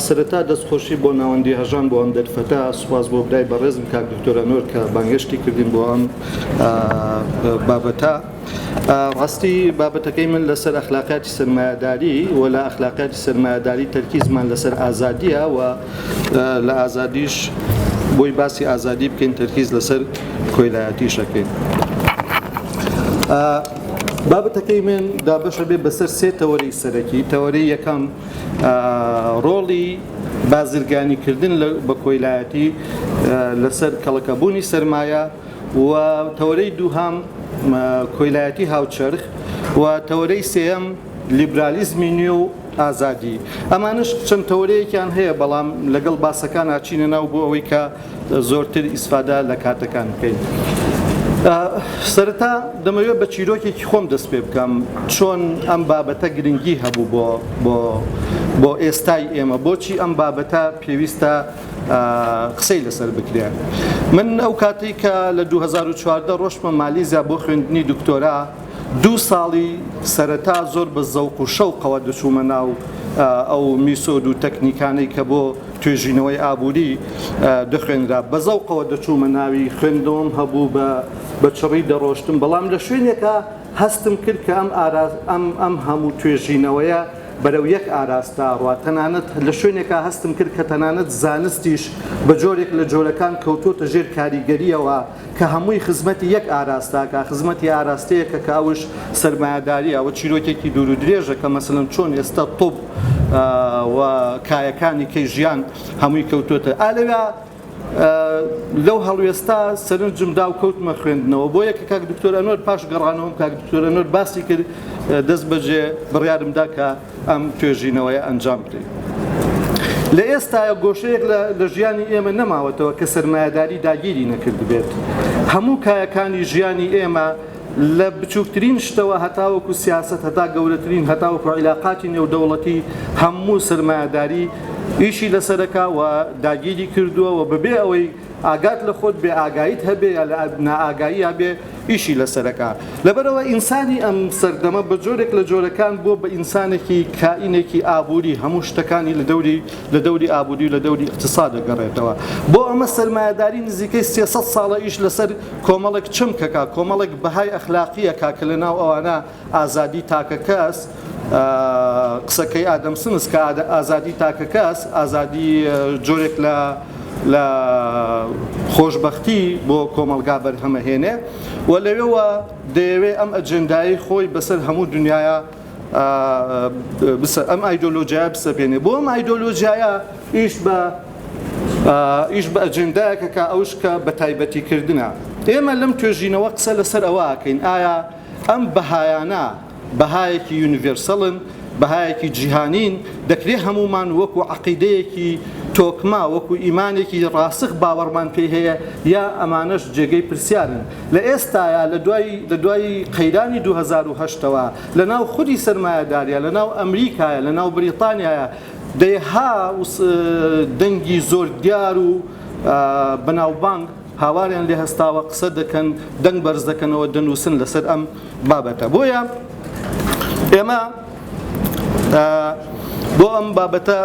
سەرەتا دەستخۆشی بۆ ناوەندی هەژان بۆ ئەم دەرفەتا سوپاس بۆ برای بەڕێزم کاک دکتۆرە نۆر کە بانگشتی کردین بۆ ئەم بابەتە ڕاستی بابەتەکەی من لەسەر ئەخلاقیاتی سەرمایەداری و لە ئەخلاقیاتی سەرمایەداری تەرکیزمان لەسەر ئازادیە و لە ئازادیش بۆی باسی ئازادی بکەین تەرکیز لەسەر کۆیلایەتیشەکەین بابەتەکەی من دابەشە بێ بەسەر سێ تەوەری سەرەکی تەوەری یەکەم ڕۆڵی بازرگانیکردن بە کۆیلایەتی لەسەر کەڵەکەبوونی سرمایە و تەوەرەی دووهەم کۆیلایەتی هاوچەرخ و تەوەرەی سێیەم لیبرالیزمی نوێ و ئازادی ئەمانش چەند تەوەرەیەکیان هەیە بەڵام لەگەڵ باسەکان ئاچینە ناو بۆ ئەوەی کە زۆرتر ئیسفادا لە کاتەکان بکەین. سەرەتا دەمەوێت بە چیرۆکێکی خۆم دەست پێ بکەم چۆن ئەم بابەتە گرنگی هەبوو بۆ بۆ بۆ ئێستای ئێمە بۆچی ئەم بابەتە پێویستە قسەی لەسەر بکرێ من ئەو کاتێک کە لە 2014 ڕۆشتمە مالیزیا بۆ خوێندنی دکتۆرا دوو ساڵی سەرەتا زۆر بە زەوق و شەوقەوە دەچوومە ناو ئەو میسۆد و تەکنیکانەی کە بۆ توێژینەوەی ئابووری دەخوێنرا بە زەوقەوە دەچوومە ناوی خوێندەوەم هەبوو بە بە چڕی دەڕۆشتم بەڵام لە شوێنێکە هەستم کرد کە ئەم ئاراز ئەم ئەم هەموو توێژینەوەیە بەرەو یەک ئاراستە ڕا تەنانەت لە شوێنێکا هەستم کرد کە تەنانەت زانستیش بە جۆرێک لە جۆرەکان کەوتۆتە ژێر کاریگەرییەوە کە هەمووی خزمەتی یەک ئاراستاکا خزمەتی ئاراستەیەکە کە ئەوش سەرمایەداریە ئەوە چیرۆکێکی دوور و درێژە کە مەسەلەن چۆن ئێستا طب و کایەکانی کەی ژیان هەمووی کەوتۆتە ئالەوێ لەو هەڵوێستە سەرنجم دا و کەوتمە خوێندنەوە بۆ یەکە کاک دکتۆر ئەنوەر پاش گەڕانەوەم کاک دکتۆر ئەنوەر باسی کرد دەست بەجێ بڕیارمدا کە ئەم توێژینەوەیە ئەنجام بدەین. لە ئێستاە گۆشەیەک لە ژیانی ئێمە نەماوەتەوە کە سەرمایەداری داگیری نەکردبێت هەموو کایەکانی ژیانی ئێمە لە بچووکترین شتەوە هەتاوەکو سیاسەت، هەتا گەورەترین، هەتاوەکو عیلاقاتی نێودەوڵەتی، هەموو سەرمایەداری ئیشی لەسەرەکا و داگیری کردووە و بەبێ ئەوەی ئاگات لە خۆت بێ ئاگاییت هەبێ یا لە نائاگاییا بێ ئیشی لەسەرەکا. لەبەرئەوە ئینسانی ئەم سەردەمە بە جۆرێک لە جۆرەکان بووە بە ئینسانێکی کائینێکی ئابووری هەموو شتەکانی لە دەوری لە دەوری ئابووری و لە دەوری ئیقتیساد دەگەڕێتەوە. بۆ ئەمە سەرمایەداری نزیکەی سێ سەد ساڵە ئیش لەسەر کۆمەڵێک چەمکەکە، کۆمەڵێک بەهای ئەخلاقییەکە کە لەناو ئەوانە ئازادیی تاکەکەس، قسەکەی ئادەم سمس کە ئازادیی تاکەکەس، ئازادی جۆرێک لە خۆشبەختی بۆ کۆمەڵگا بەرهەمەهێنێ و لەوێوە دەیەوێ ئەم ئەجێندایەی خۆی بەسەر هەموو دنیایا ئەم ئایدۆلۆژیایە بسەپێنێ بۆ ئەم ئایدۆلۆژیایە ئیش بە ئیش بە ئەجندایەکە کە ئەوش کە بە تایبەتیکردە ئێمە لەم توێژینەوە قسە لەسەر ئەوەکەین ئایا ئەم بەهایانە بەهایەکی یونیڤرسەڵن بەهایەکی جیهانین دەکرێ هەمومان وەکو عقیدەیەکی تۆکما وەکو ئیمانێکی ڕاسخ باوەڕمان پێ هەیە یا ئەمانەش جێگەی پرسیارن لە ئێستایا لە دوای لە دوای قەیرانی دوو هەزار و هەشت تەوە لە ناو خودی سەرمایەداریا لە ناو ئەمریکایە لە ناو بریتانیایە دەیەها دەنگی زۆر دیار و بەناوبانگ هاواریان لێ هەستاوە قسە دەکەن دەنگ بەرز دەکەنەوە دەنووسن لەسەر ئەم بابەتە بۆیە ئێمە بۆ ئەم بابەتە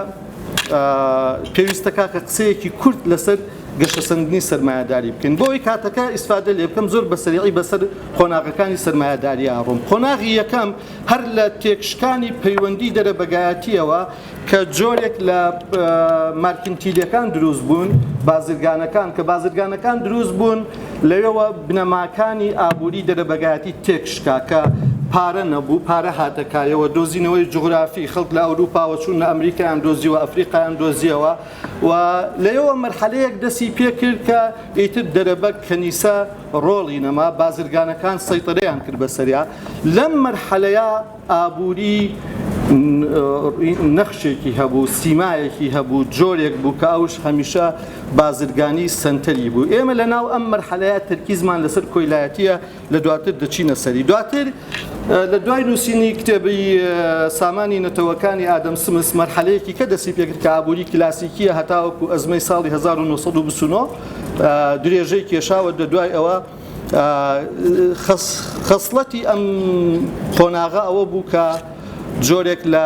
پێویستە کاکە قسەیەکی کورت لەسەر گەشەسەندنی سەرمایەداری بکەین بۆ ئەوەی کاتەکە ئیسفادە لێ بکەم زۆر بە سەریعی بەسەر قۆناغەکانی سەرمایەداری ئەڕۆم قۆناغی یەکەم هەر لە تێکشکانی پەیوەندی دەرەبەگایەتیەوە کە جۆرێک لە مارکنتیلەکان دروست بوون بازرگانەکان کە بازرگانەکان دروست بوون لەوێەوە بنەماکانی ئابووری دەرەبەگایەتی تێکشکا کە پارە نەبوو پارە هاتەکایەوە دۆزینەوەی جوغرافی خەڵک لە ئەوروپاوە چوون لە ئەمریکایان دۆزیوە ئەفریقایان دۆزیەوە و لەیەوە مەرحەلەیەک دەسی پێکرد کە ئیتر دەرەبەگ کەنیسە ڕۆڵی نەما بازرگانەکان سەیتەرەیان کرد بەسەریا لەم مەرحەلەیە ئابووری نەخشێکی هەبوو سیمایەکی هەبوو جۆرێک بوو کە ئەوش هەمیشە بازرگانی سنتەری بوو ئێمە لە ناو ئەم مەرحەلەیە تەرکیزمان لەسەر کۆیلایەتیە لە دواتر دەچینە سەری دواتر لە دوای نووسینی کتێبی سامانی نەتەوەکانی ئادەم سمس مەرحەلەیەکی کە دەسی پێکرد کە ئابووری کلاسیکیە هەتاوەکو ئەزمەی ساڵی 1929 درێژەی کێشاوە دە دوای ئەوە خەسڵەتی ئەم قۆناغە ئەوە بوو کە جۆرێک لە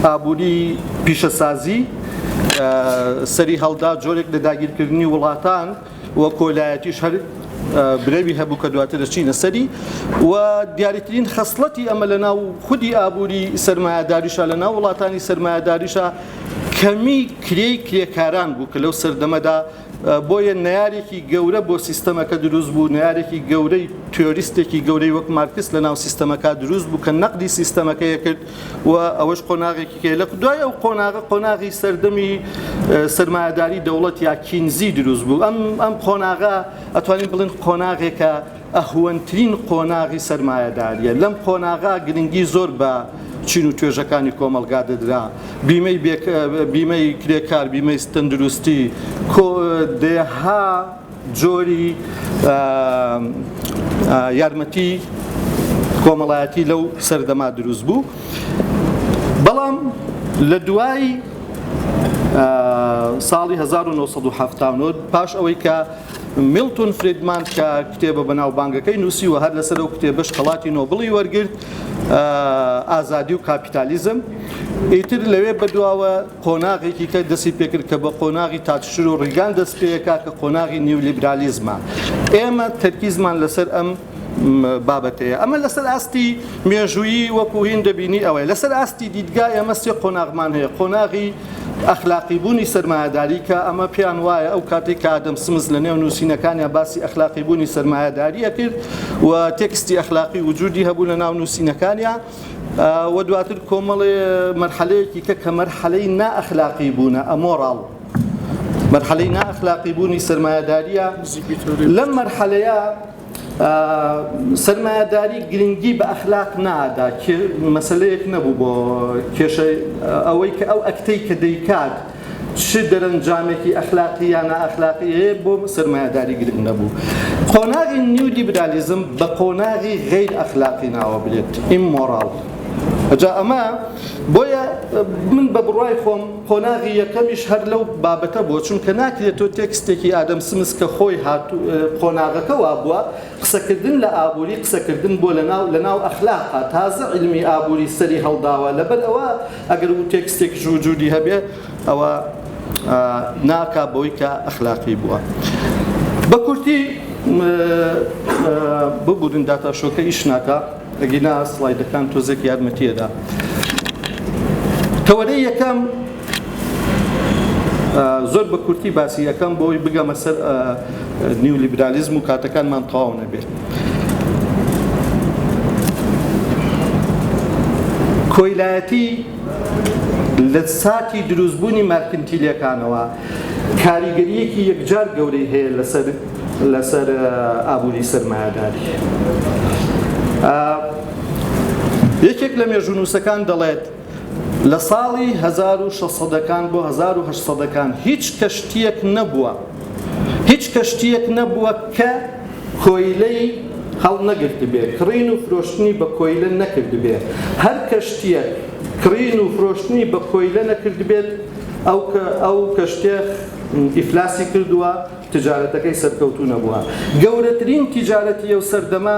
ئابووری پیشەسازی سەری هەڵدا جۆرێک لە داگیرکردنی وڵاتان و کۆلایەتیش هەر برەوی هەبوو کە دواتر دەچینە سەری و دیاریترین خەسڵەتی ئەمە لە ناو خودی ئابووری سرمایهداریشە لە ناو وڵاتانی سرمایهداریشە کەمی کرێی کرێکاران بوو کە لەو سەردەمەدا بۆیە نارێکی گەورە بۆ سیستەمەکە دروست بوو نارێکی گەورەی تۆریستێکی گەورەی وەک مارکس لە ناو سیستەمەکە دروست بوو کە نەقدی سیستەمەکەیە کرد و ئەوەش قۆناغێکی کە لە دوای ئەو قۆناغە قۆناغی سەردەمی سرمایهداری دەوڵەت یا کینزی دروست بوو ئەم ئەم قۆناغا ئەتوانین بڵێن قۆناغێکە ئەهوەنترین قۆناغی سرمایهداریە لەم قۆناغا گرنگی زۆر بە چین و توێژەکانی کۆمەلگا دەدرا بیمەی بیمەی کرێکار بیمەی تەندروستی دێها جۆری یارمەتی کۆمەڵایەتی لەو سەردەما دروست بوو بەڵام لە دوای ساڵی 1970 پاش ئەوەی کە میلتون فریدمان کە کتێبە بەناوبانگەکەی نووسی و هەر لەسەر ئەو کتێبش خەڵاتی نۆبڵی وەرگرت ئازادی و کاپیتالیزم ئیتر لەوێ بەدواوە قۆناغێکی تر دەستی پێکرد کە بە قۆناغی تاتشر و ڕیگان دەست پێکا کە قۆناغی نیولیبرالیزمە ئێمە تەرکیزمان لەسەر ئەم بابەتەیە ئەمە لەسەر ئاستی مێژوویی وەکوهین دەبینی ئەوەیە لەسەر ئاستی دیدگا ئێمە سێ قۆناغمان هەیە قۆناغی ئەخلاقی بوونی سرمایهداری کە ئەمە پێیان وایە ئەو کاتێک کە ئادەم سمز لە نێو نووسینەکانیان باسی ئەخلاقی بوونی سرمایهداریە کرد و تێکستی ئەخلاقی وجودی هەبوو لە ناو نووسینەکانیان و دواتر کۆمەڵێ مەرحەلەیەکی کە کە مەرحەلەی نائەخلاقی بوونە ئەمۆڕاڵ مەرحەلەی نائەخلاقی بوونی سەرمایەداریە لەم مەرحەلەیە سەرمایەداری گرنگی بە ئەخلاق نادا مەسلەیەک نەبوو بۆ کێشە ئەوەی کە ئەو ئەکتەی کە دەیکات چ دەرەنجامێکی ئەخلاقی یا نائەخلاقی هەیە بۆ سەرمایەداری گرنگ نەبوو. قۆناغی نیولیبرالیزم بە قۆناغی غەیر ئەخلاقی ناوەبرێت، ئیممۆراڵ. جا ئەمە بۆیە من بە بڕوای خۆم قۆناغی یەکەمیش هەر لەو بابەتە بووە چونکە ناکرێت تۆ تێکستێکی ئادەم سمس کە خۆی قۆناغەکە وا بووە قسەکردن لە ئابووری قسەکردن بۆ لەناو لەناو ئەخلاقا تازە علمی ئابووری سەری هەڵداوە لەبەر ئەوە ئەگەر وو تێکستێکیش وجودی هەبێ ئەوە ناکا بەوەی کە ئەخلاقی بووە بە کورتی ببورن داتا شۆکە ئیش ناکا ئەگینا سڵایدەکان تۆزێک یارمەتیەدا تەوەرە یەکەم زۆر بە کورتی باسی یەکەم بۆی بگەمە سەر نیولیبرالیزم و کاتەکانمان تەواو نەبێت کۆیلایەتی لە ساتی دروستبوونی مارکنتیلیەکانەوە کاریگەریەکی یەکجار گەورەی هەیە لەسەر لەسەر ئابووری سەرمایەداری یەکێک لە مێژونووسەکان دەڵێت لە ساڵی هەزار و شەش سەدەکان بۆ هەزار و هەشت سەدەکان هیچ کەشتییەک نەبووە هیچ کەشتییەک نەبووە کە کۆیلەی هەڵنەگرتبێ کڕین و فرۆشتنی بە کۆیلە نەکردبێ هەر کەشتییەک کڕین و فرۆشتنی بە کۆیلە نەکردبێت ئەو کە ئەو کەشتێ ئیفلاسی کردووە تجارەتەکەی سەرکەوتوو نەبووە گەورەترین تجارەتی ئەو سەردەمە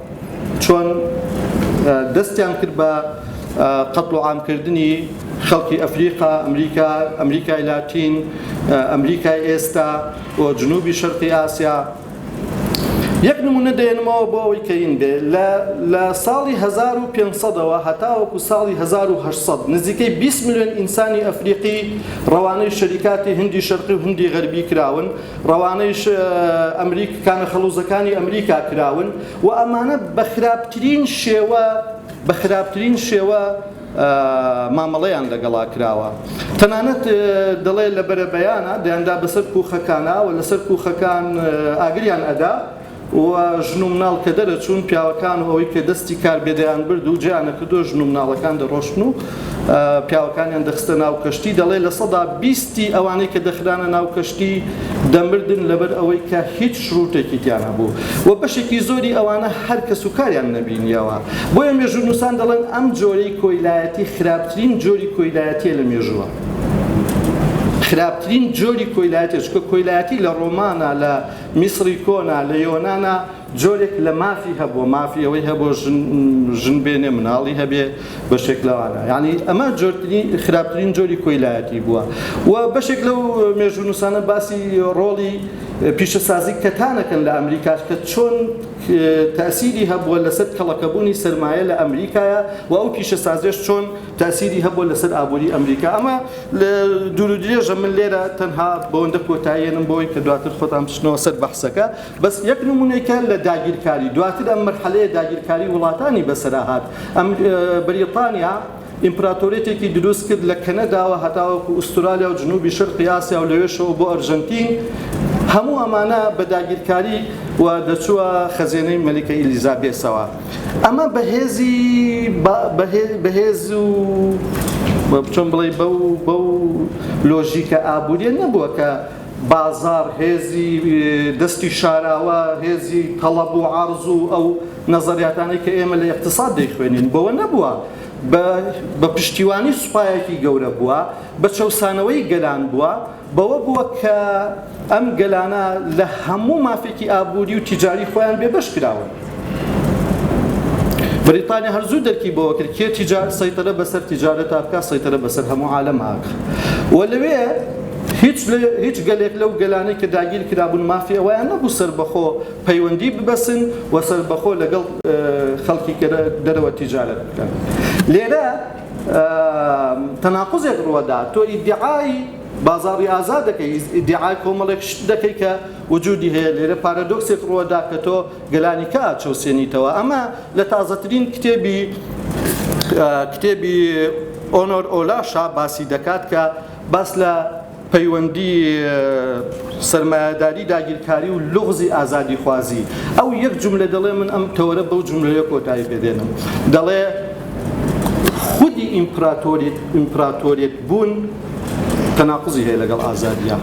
چۆن دەستیان کرد بە قەتڵ و عام کردنی خەڵکی ئەفریقا، ئەمریکا، ئەمریکای لاتین، ئەمریکای ئێستا و جنوبی شەرقی ئاسیا. یەک نمونە دەێنمەوە بۆ ئەوەی کەین بێ لە لە ساڵی 1500 ەوە هەتاوەکو ساڵی 1800 نزیکەی 20 ملیۆن ئینسانی ئەفریقی ڕەوانەی شەریکاتی هندی شەرقی و هندی غەربی کراون، ڕەوانەیش ئەمریک کانە خەڵوزەکانی ئەمریکا کراون و ئەمانە بە خراپترین شێوە بە خراپترین شێوە مامەڵەیان لەگەڵا کراوە تەنانەت دەڵێ لە بەرەبەیانە دەیاندا بەسەر کوخەکانە و لەسەر کوخەکان ئاگریان ئەدا و ژن و مناڵ کە دەرەچوون پیاوەکان و ئەوەی کە دەستی کار بێ دەیانبرد و جێیان نەکردووە ژن و مناڵەکان دەڕۆشتن و پیاوەکانیان دەخستە ناو کەشتی دەڵێ لە سەدا بیستی ئەوانەی کە دەخرانە ناو کەشتی دەمردن لەبەر ئەوەی کە هیچ شروتێکی تیان هەبوو و بەشێکی زۆری ئەوانە هەر کەس و کاریان نەبینیەوە بۆیە مێژوونووسان دەڵێن ئەم جۆرەی کۆیلایەتی خراپترین جۆری کۆیلایەتیە لە مێژووە خراپترین جۆری کۆیلایەتێ چکە کۆیلایەتی لە ڕۆمانە لە میسری کۆنا لە یۆنانا جۆرێک لە مافی هەبووە مافی ئەوەی هەبووە ژن ژن بێنێ مناڵی هەبێ بەشێک لەوانە یعنی ئەمە جۆرترین خراپترین جۆری کۆیلایەتی بووە و بەشێک لەو مێژونووسانە باسی ڕۆڵی پیشەسازی کەتانەکەن لە ئەمریکاش کە چۆن تاسیری هەبووە لەسەر کەڵەکەبوونی سەرمایە لە ئەمریکایە و ئەو پیشەسازێش چۆن تاسیری هەبووە لەسەر ئابووری ئەمریکا ئەمە لە دوور و درێژە من لێرە تەنها بەوەندە کۆتاییەنم بۆی کە دواتر خۆتان بچنەوە سەر بەحسەکە بەس یەک نمونەیکە لە داگیرکاری دواتر ئەم مەرحەلەیە داگیرکاری وڵاتانی بەسەرا هات ئەم بەریتانیا ئیمپراتۆریەتێکی دروست کرد لە کەنەداوە هەتاوەکو ئوسترالیا و جنوبی شەرقی ئاسیا و لەوێشەوە بۆ ئەرژەنتین هەموو ئەمانە بە داگیرکاری و دەچووە خەزێنەی مەلیکە ئیلیزابێسەوە ئەمە بە هێزی با بە هێ بە هێز و بە چۆن بڵێی بەو بەو لۆژیکە ئابووریە نەبووە کە بازاڕ هێزی دەستی شاراوە هێزی تەڵەب و عەڕز و ئەو نەزەریاتانەی کە ئێمە لە ئێقتساد دەیخوێنین بەوە نەبووە بە بە پشتیوانی سوپایەکی گەورە بووە بە چەوسانەوەی گەلان بووە بەوە بووە کە ئەم گەلانە لە هەموو مافێکی ئابووری و تیجاری خۆیان بێبەش کراون. بریتانیا هەر زوو دەرکی بەوە کرد کێ تیجار سەیتەرە بەسەر تیجارەتا بکە سەیتەرە بەسەر هەموو عالەم ئاکە و لەوێ هیچ هیچ گەلێک لەو گەلانەی کە داگیر کرابوون مافی ئەویان نەبوو سربەخۆ پەیوەندی ببەسن و سربەخۆ لەگەڵ خەڵکی دەرەوە تیجارەت بکەن لێرە تەناقوزێک ڕوەدا تۆ ئیدعای بازاری ئازاد دەکەی ئیدعای کۆمەڵێک شت دەکەی کە وجودی هەیە لێرە پارادۆکسێک ڕوەدا کە تۆ گەلانی کە چەوسێنیتەوە ئەمە لە تازەترین کتێبی کتێبی ئۆنۆر ئۆلاشا باسی دەکات کە باس لە پەیوەندی سەرمایەداری داگیرکاری و لوغزی ئازادیخوازی ئەو یەک جوملە دەڵێ من ئەم تەوەرە بەو جوملەیە کۆتایی پێ دێنم دەڵێ خودی ئیمپراتۆریت ئیمپراتۆریت بوون تەناقزی هەیە لەگەڵ ئازادیە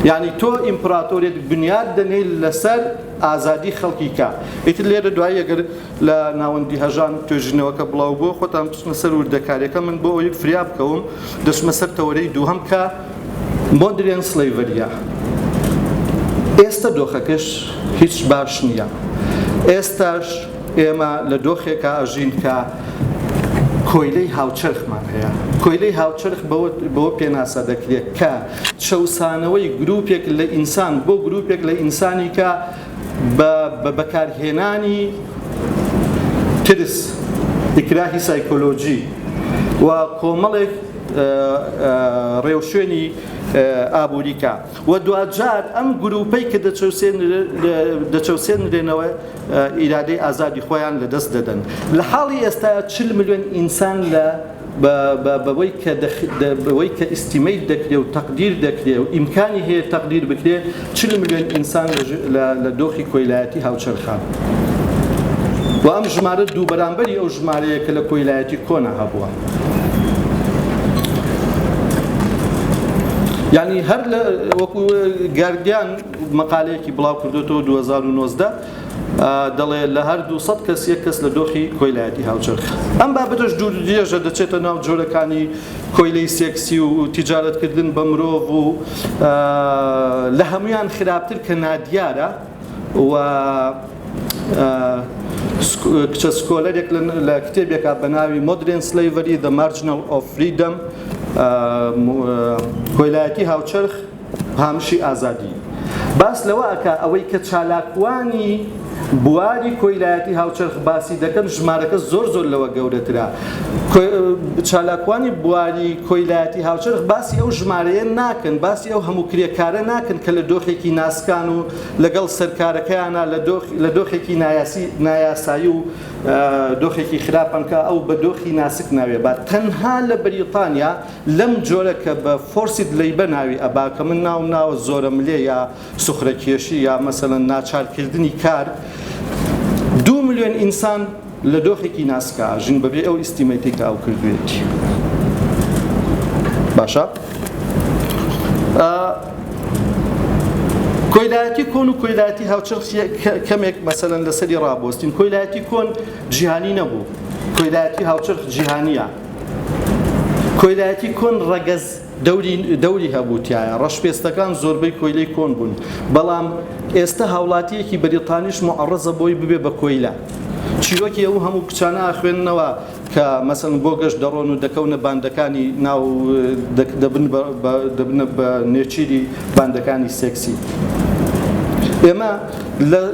یعنی تۆ ئیمپراتۆریت بنیاد دەنێی لەسەر ئازادی خەڵکی کە ئیتر لێرە دوایی ئەگەر لە ناوەندی هەژان توێژینەوەکە بڵاوبووە خۆتان بچنە سەر وردەکاریەکە من بۆ ئەوەی فریا بکەوم دەچمە سەر تەوەرەی دووهەم کە مۆدرێن سلەیڤەریە ئێستە دۆخەکەش هیچ باش نییە ئێستاش ئێمە لە دۆخێکا ئەژین کە کۆیلەی هاوچەرخمان هەیە کۆیلەی هاوچەرخ بۆ پێناسە دەکرێت کە چەسانەوەی گرروپێک لە ئینسان بۆ گرروپێک لە ئینسانی کە بە بەکارهێنانی ترس، ئیکراهی سایکۆلۆجی و کۆمەڵێک ڕێوشوێنی ئابووری کا و دواجار ئەم گرووپەی کە دەچەوسێنرێنەوە ئیرادەی ئازادی خۆیان لەدەست دەدەن. لە حاڵی ئێستا چل ملیۆن ئینسان لە بەوەی کە بەوەی کە ئیستیمەیت دەکرێ و تەقدیر دەکرێ و ئیمکانی هەیە تەقدیر بکرێ چل ملیۆن ئینسان لە دۆخی کۆیلایەتی هاوچەرخان و ئەم ژمارە دوو بەرامبەری ئەو ژمارەیە کە لە کۆیلایەتی کۆنا هەبووە یعنی هەر لە وەکو گاردیان مەقالەیەکی بڵاو کردوێتەوە 2019 دەڵێ لە هەر دوو سەد کەس یەک کەس لە دۆخی کۆیلایەتی هاوچەرخ. ئەم بابەتەش دوور درێژە دەچێتە ناو جۆرەکانی کۆیلەی سێکسی و تیجارەتکردن بە مرۆڤ و لە هەموویان خراپتر کە نادیارە و کچە سکۆلەرێک لە کتێبێکا بە ناوی مۆدرێن سلەیڤەری دە مارجنەڵ ئۆف فریدەم کۆیلایەتی هاوچەرخ هامشی ئازادی باس لەوە ئەکا ئەوەی کە چالاکوانی بواری کۆیلایەتی هاوچەرخ باسی دەکەن ژمارەکە زۆر زۆر لەوە گەورەترە چالاکوانی بواری کۆیلایەتی هاوچەرخ باسی ئەو ژمارەیە ناکەن باسی ئەو هەموو کرێکارە ناکەن کە لە دۆخێکی ناسکان و لەگەڵ سەرکارەکەیانە لە دۆخێکی نایاسی نایاسایی و دۆخێکی خراپەنکە ئەو بە دۆخی ناسک ناوێ بە تەنها لە بەریتانیا لەم جۆرە کە بە فۆرسید لەیبە ناوی ئەبا کە من ناوم ناوە زۆرە ملێ یا سوخرە کێشی یا مەسەلەن ناچار کردنی کار دوو ملیۆن ئینسان لە دۆخێکی ناسکا ژین بەبێ ئەو ئیستیمەی پێی کە ئەو کردوێتی باشە کۆیلایەتی کۆن و کۆیلایەتی هاوچەخ کەمێک مەسەن لەسەری ڕابۆستین کۆیلایەتی کۆن جیهانی نەبوو کۆیلایەتی هاوچەرخ جیهانیە کۆیلایەتی کۆن ڕەگەز دەوری دەوری هەبوو تایە ڕەشپێستەکان زۆربەی کۆیلەی کۆن بوون بەڵام ئێستا هاوڵاتیەکی بەریتانیش معڕزە بۆی ببێ بە کۆیلە چیرۆکی ئەو هەموو کچانە ئاخوێننەوە کە مەسن بۆ گەشت دەڕۆن و دەکەونە باندەکانی ناو دەبن دەبنە بە نێچیری باندەکانی سێکسی ئێمە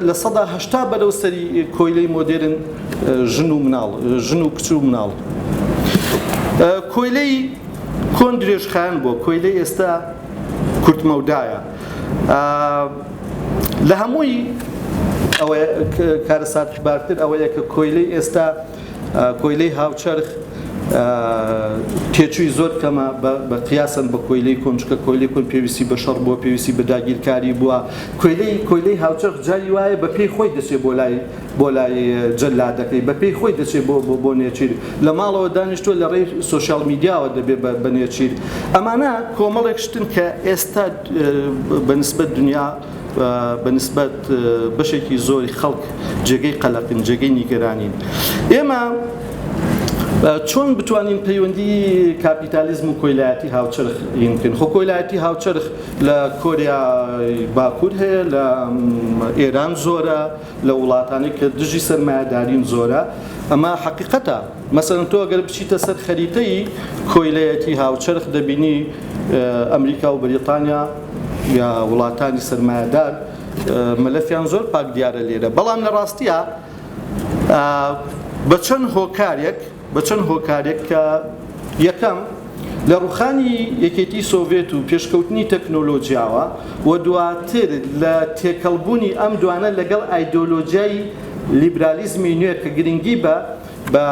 لە سەدا هەشتا بەرەو سەری کۆیلەی مۆدێرن ژن و مناڵ ژن و کچ و مناڵ کۆیلەی کۆن درێژخان بۆ کۆیلەی ئێستا کورتمەودایە لە هەمووی ئەوە کارەسات بارتر ئەوەیە کە کۆیلەی ئێستا کۆیلەی هاوچەرخ تێچووی زۆر کەمە بە قیاسن بە کۆیلەی کۆنچکە کۆیلی کۆن پێویستی بە شەڕ بووە پێویستی بە داگیرکاری بووە کۆیلەی کۆیلەی هاوچەرخ جاری وایە بە پێی خۆی دەچێت بۆ لای بۆ لای جەلادەکەی بە پێی خۆی دەچێت بۆ بۆ بۆ نێچیر لە ماڵەوە دانیشتووە لە ڕێی سۆشیال میدیاوە دەبێت بە بە نێچیر ئەمانە کۆمەڵێک شتن کە ئێستا بە نسبەت دنیا بە نسبەت بەشێکی زۆری خەڵک جێگەی قەلەقین جێگەی نیگەرانین ئێمە چۆن بتوانین پەیوەندی کاپیتالیزم و کۆیلایەتی هاوچەرخ ینکن خۆ کۆیلایەتی هاوچەرخ لە کۆریا باکوور هەیە لە ئێران زۆرە لە وڵاتانەی کە دژی سەرمایەدارین زۆرە ئەمە حەقیقەتە مەسەن تۆ گەر بچیتە سەر خەریتەی کۆیلەتی هاوچەرخ دەبینی ئەمریکا و بەریتانیا یا وڵاتانی سەرمایەدار مەلەفیان زۆر پاک دیارە لێرە بەڵام لە ڕاستیە بە چەند هۆکارێک بە چەند هۆکارێک کە یەکەم، لە ڕووخانی یەکێتی سۆڤێت و پێشکەوتنی تەکنۆلۆجیاوە و دواتر لە تێکەڵبوونی ئەم دوانە لەگەڵ ئایدۆلۆجیای لیبرالیزمی نوێ کە گرنگی بە بە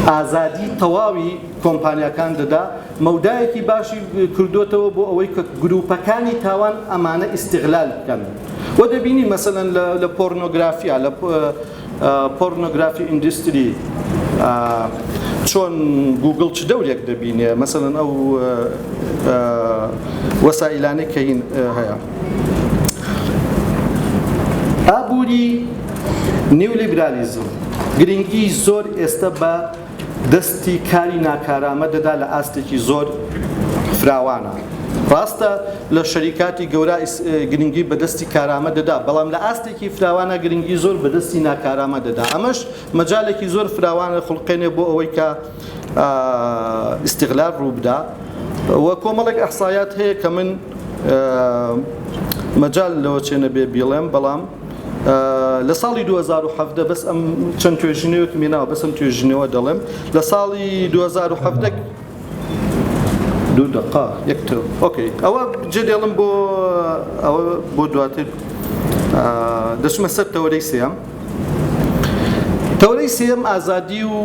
ئازادی تەواوی کۆمپانیاکان دەدا، مەودایەکی باشی کردۆتەوە بۆ ئەوەی کە گروپەکانی تاوان ئەمانە ئیستیغلال بکەن و دەبینین مەسەلەن لە پۆرنۆگرافیا لە پۆرنۆگرافی ئیندستری چۆن گوگڵ چ دەورێک دەبینێ مەسەلەن ئەو وەسائیلانەی کە هین هەیە ئابووری نیولیبرالیزم گرنگی زۆر ئێستا بە دەستی کاری ناکارامە دەدا لە ئاستێکی زۆر فراوانە. ڕاستە لە شەریکاتی گەورا گرنگی بە دەستی کارامە دەدا، بەڵام لە ئاستێکی فراوانە گرنگی زۆر بە دەستی ناکارامە دەدا. ئەمەش مەجالێکی زۆر فراوان دەخولقێنێ بۆ ئەوەی کە ئیستغلال ڕوو بدا و کۆمەڵێک ئیحسایات هەیە کە من مەجال لەوە چێ نەبێ بیڵێم، بەڵام لە ساڵی دوو هەزار و حەڤدە بەس ئەم چەند توێژینەوەکم هێناوە بەس ئەم توێژینەوە دەڵێم لە ساڵی دوو هەزار و حەڤدە دوو دقا یەک تۆ ئۆکەی ئەوە جێ دێڵم بۆ ئەوە بۆ دواتر دەچمە سەر تەوەرەی سێم تەوەرەی سێم ئازادی و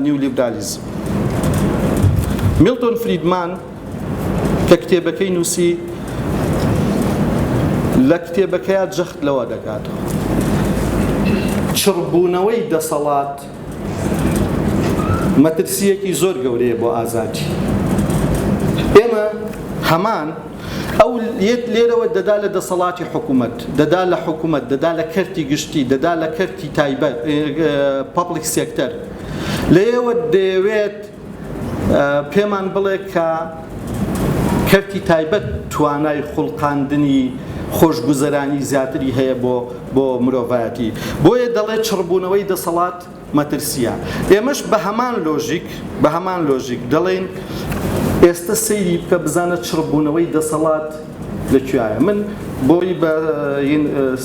نیولیبرالیزم میلتۆن فریدمان کە کتێبەکەی نووسی لە کتێبەکەیە جەخت لەوە دەکات چڕبوونەوەی دەسەڵات مەترسیەکی زۆر گەورەیە بۆ ئازادی ئێمە هەمان ئەو یەت لێرەوە دەدا لە دەسەڵاتی حکوومەت دەدا لە حکوومەت دەدا لە کەرتی گشتی دەدا لە کەرتی تایبەت پبلیک سێکتەر لەیەوە دەیەوێت پێمان بڵێ کە کەرتی تایبەت توانای خوڵقاندنی خۆشگوزەرانی زیاتری هەیە بۆ بۆ مرۆڤایەتی بۆیە دەڵێ چڕبوونەوەی دەسەڵات مەترسیە ئێمەش بە هەمان لۆژیک بە هەمان لۆژیک دەڵێن ئێستا سەیری بکە بزانە چڕبوونەوەی دەسەڵات لەکوایە من بۆی بە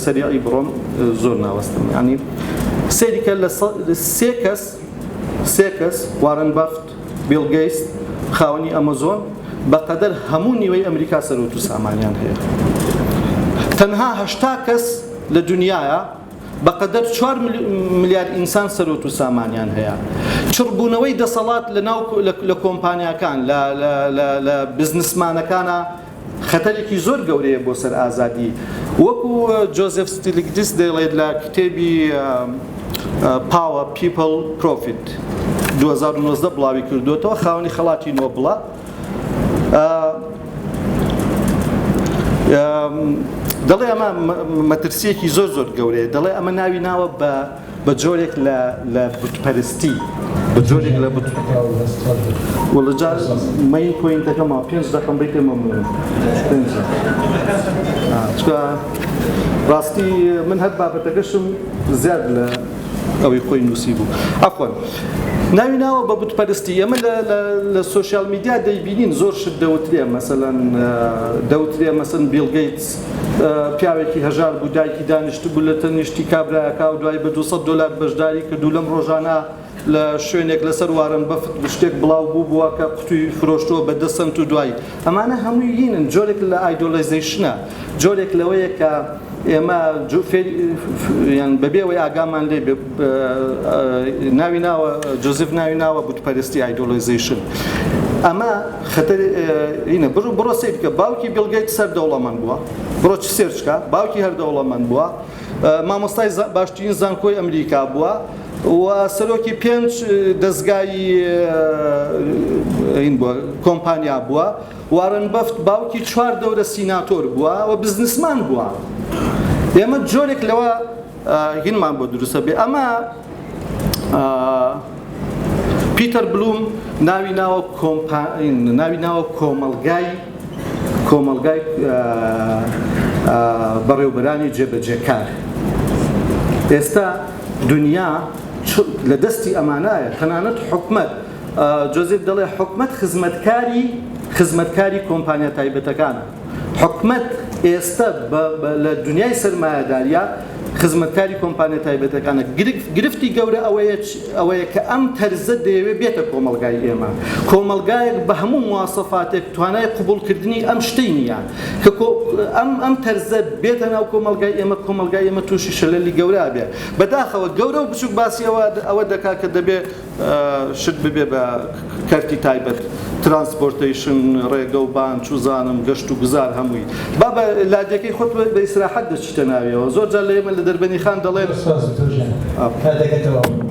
سەریعی بڕۆم زۆر ناوەستم ینی سەیریکە لە سێ کەس سێ کەس، وارن بەفت، بیڵ گەیست، خاوەنی ئەمەزۆن، بە قەدەر هەموو نیوەی ئەمریکا سەروەت و سامانیان هەیە. تەنها هەشتا کەس لە دونیایا بە قەدەر چوار ملیار ئینسان سەروەت و سامانیان هەیە. چڕبوونەوەی دەسەڵات لە ناو لە کۆمپانیاکان لە بزنسمانەکانا خەتەرێکی زۆر گەورەیە بۆ سەر ئازادی. وەکو جۆزێف ستیلیگدیس دەیڵێت لە کتێبی Power، People، Profit، دوو هەزار و نۆزدە بڵاوی کردووەتەوە، خاوەنی خەڵاتی نۆبڵە، دەڵێ ئەمە مەترسییەکی زۆر زۆر گەورەیە، دەڵێ ئەمە ناوی ناوە بە، بە جۆرێک لە لە بتپەرستی بە جۆرێک لە بت وەڵا جار مەی پۆینتەکەمەوە پێنج دەقەم بەی پێ مەمنونم پێنج چکە ڕاستی من هەر بابەتەکەشم زیاد لە ئەوەی خۆی نووسی بوو ئەخۆن ناوی ناوە بە بتپەرستی ئێمە لە سوۆسیال میدیا دەیبینین زۆر شت دەوترێ مەسەەن دەوترێ مەسن بیلگەیت پیاوێکی هەژار بوو، دایکی دانیشتبوو لە تەنیشتی کابرایەکا و دوای بە دوو سەد دۆلار بەشداری کرد و لەم ڕۆژانە لە شوێنێک لەسەر وارن بەفت شتێک بڵاو بووبووە کە قوتووی فرۆشتووە بە دە سەنت و دوایی ئەمانە هەمووی لینن جۆرێک لە ئایدۆلەیزەیشنە جۆرێک لەوەیە کە ئێمە بەبێ ئەوەی ئاگامان لێ بێ ناوی ناوە جۆزیف ناوی ناوە بتپەرستی ئایدۆلۆیزەیشن ئەمە خەتەر ئینە بڕ بڕۆ سیر بکە باوکی بیڵگەیت سەر دەوڵەمەند بووە بڕۆ چ سێرچکە باوکی هەر دەوڵەمەند بووە مامۆستای باشترین زانکۆی ئەمریکا بووە و سەرۆکی پێنج دەستگای این بووە کۆمپانیا بووە وارن بەفت باوکی چوار دەورە سیناتۆر بووە و بزنسمان بووە ئێمە جۆرێک لەوە گنمان بۆ دروستە بێ ئەمە پیتەر بلوم ناوی ناوە ناوی ناوە کۆمەلگای کۆمەلگای بەڕێوبەرانی جێبەجێکار ئێستا دنیا لە دەستی ئەمانایە تەنانەت حکومت جۆزیف دەڵێ حکومت خزمەتکاری خزمەتکاری کۆمپانیا تایبەتەکانە حکومەت ئێستە لە دونیای سەرمایەداریە خزمەتکاری کۆمپانیا تایبەتەکانە گرفتی گەورە ئەوەیە کە ئەم تەرزە دەیەوێت بێتە کۆمەلگای ئێمە کۆمەلگایەک بە هەموو مواسەفاتێک توانای قوبولکردنی ئەم شتەی نییە کە ئەم ئەم تەرزە بێتە ناو کۆمەلگای ئێمە کۆمەلگای ئێمە تووشی شەلەلی گەورە بێت بەداخەوە گەورە و بچوک باسی ئەوە ئەوە دەکات کە دەبێت شت ببێ بە کەرتی تایبەت ترانسپۆرتەیشن ڕێگە و بان چوزانم گەشت و گوزار هەمووی با بە لادێکەی خۆت بە ئیسراحەت دەچیتە ناویەوە زۆر جار لە ئێمە لە دەربەنیخان دەڵێن. سپاس دکتۆر جان کاتەکە تەواو بوو.